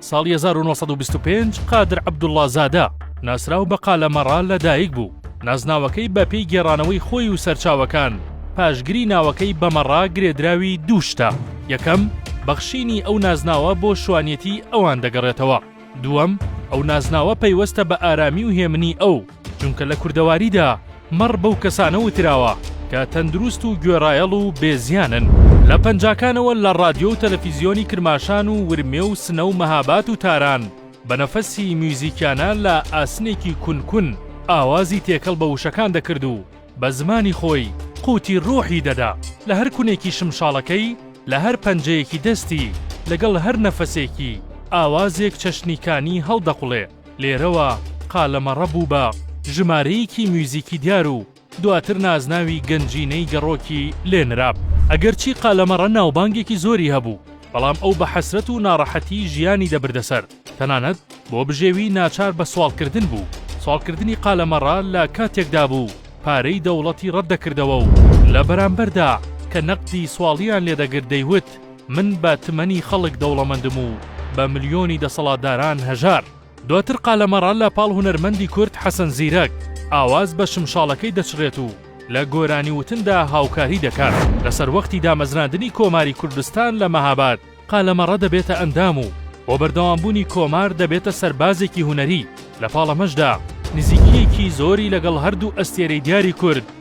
ساڵی هەزار و نۆ سەد و بیست و پێنج قادر عەبدوڵڵا زادە، ناسراو بە قالە مەڕا لە دایک بوو، نازناوەکەی بە پێی گێڕانەوەی خۆی و سەرچاوەکان، پاشگری ناوەکەی بە مەڕا گرێدراوی دوو شتە، یەکەم، بەخشینی ئەو نازناوە بۆ شوانیەتی ئەوان دەگەڕێتەوە، دووەم، ئەو نازناوە پەیوەستە بە ئارامی و هێمنی ئەو، چونکە لە کوردەواریدا مەڕ بەو کەسانە وتراوە کە تەندروست و گوێڕایەڵ و بێ زیانن، لە پەنجاکانەوە لە ڕادیۆ و تەلەفیزیۆنی کرماشان و ورمێ و سنە و مەهاباد و تاران بە نەفەسی میوزیکیانە لە ئاسنێکی کون کون ئاوازی تێکەڵ بە وشەکان دەکرد و بە زمانی خۆی قوتی ڕۆحی دەدا لە هەر کونێکی شمشاڵەکەی لە هەر پەنجەیەکی دەستی لەگەڵ هەر نەفەسێکی ئاوازێک چەشنی کانی هەڵدەقوڵێ. لێرەوە قالەمەڕە بوو بە ژمارەیەکی میوزیکی دیار و دواتر نازناوی گەنجینەی گەڕۆکی لێ نرا. ئەگەرچی قالەمەڕە ناوبانگێکی زۆری هەبوو، بەڵام ئەو بە حەسرەت و ناڕەحەتیی ژیانی دەبردە سەر، تەنانەت بۆ بژێوی ناچار بە سواڵکردن بوو، سواڵکردنی قالەمەڕە لە کاتێکدا بوو پارەی دەوڵەتی ڕەت دەکردەوە و لە بەرامبەردا کە نەقدی سواڵیان لێ دەگرت دەیوت، من بە تمەنی خەڵک دەوڵەمەندم و بە ملیۆنی دەسەڵاتداران هەژار. دواتر قالەمەڕە لە پاڵ هونەرمەندی کورد حەسەن زیرەک ئاواز بە شمشاڵەکەی دەچڕێت و لە گۆرانی وتندا هاوکاری دەکات. لە سەروەختی دامەزراندنی کۆماری کوردستان لە مەهاباد قالەمەڕە دەبێتە ئەندام و بۆ بەردەوامبوونی کۆمار دەبێتە سەربازێکی هونەری، لە پاڵ ئەمەشدا نزیکییەکی زۆری لەگەڵ هەردوو ئەستێرەی دیاری کورد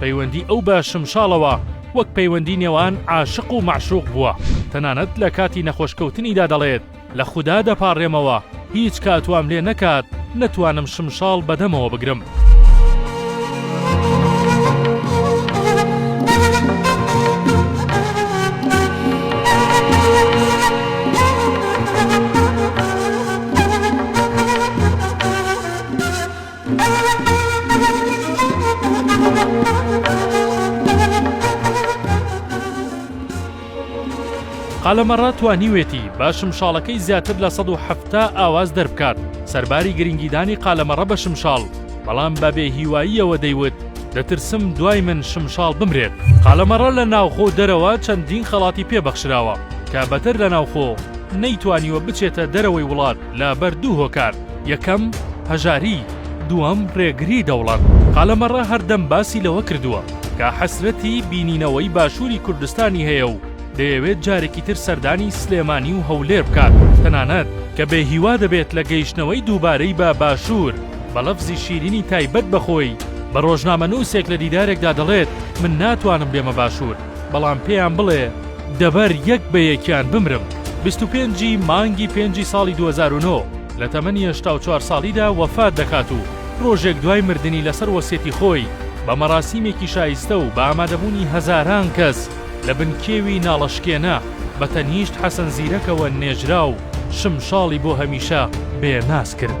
پەیوەندی ئەو بە شمشاڵەوە وەک پەیوەندی نێوان عاشق و مەعشوق بووە، تەنانەت لە کاتی نەخۆشکەوتنیدا دەڵێت، لە خودا دەپاڕێمەوە هیچ کات وام لێ نەکات نەتوانم شمشاڵ بە دەمەوە بگرم. قەلەمەڕە توانیوێتی بە شمشاڵەکەی زیاتر لە سەد و حەفتا ئاواز دەربکات، سەرباری گرنگیدانی قەلەمەڕە بە شمشاڵ، بەڵام بە بێ هیواییەوە دەیوت، دەترسم دوای من شمشاڵ بمرێت. قەلەمەڕە لە ناوخۆ و دەرەوە چەندین خەڵاتی پێ بەخشراوە، کە بەتەر لە ناوخۆ، نەیتوانیوە بچێتە دەرەوەی وڵات. لە بەر دوو هۆکار، یەکەم، هەژاری، دووەم، رێگری دەوڵەت. قالەمەڕە هەردەم باسی لەوە کردووە کە حەسرەتی بینینەوەی باشووری کوردستانی هەیە و دەیەوێت جارێکی تر سەردانی سلێمانی و هەولێر بکات، تەنانەت کە بێ هیوا دەبێت لە گەیشتنەوەی دووبارەی بە باشوور، بە لەفزی شیرینی تایبەت بە خۆی بە رۆژنامەنووسێک لە دیدارێکدا دەڵێت من ناتوانم بێمە باشوور. بەڵام پێیان بڵێ دەبەر یەک بە یەکیان بمرم. بیست و پێنج ی مانگی پێنجی ساڵی دوو هەزار و نۆ لە تەمەنی هەشتا و چوار ساڵیدا وەفات دەکات و ڕۆژێک دوای مردنی لەسەر وەسیەتی خۆی بە مەراسیمێکی شایستە و بە ئامادەبوونی هەزاران کەس لە بن کێوی ناڵەشکێنە بە تەنیشت حەسەن زیرەکەوە نێژرا و شمشاڵی بۆ هەمیشە بێ ناز کرد.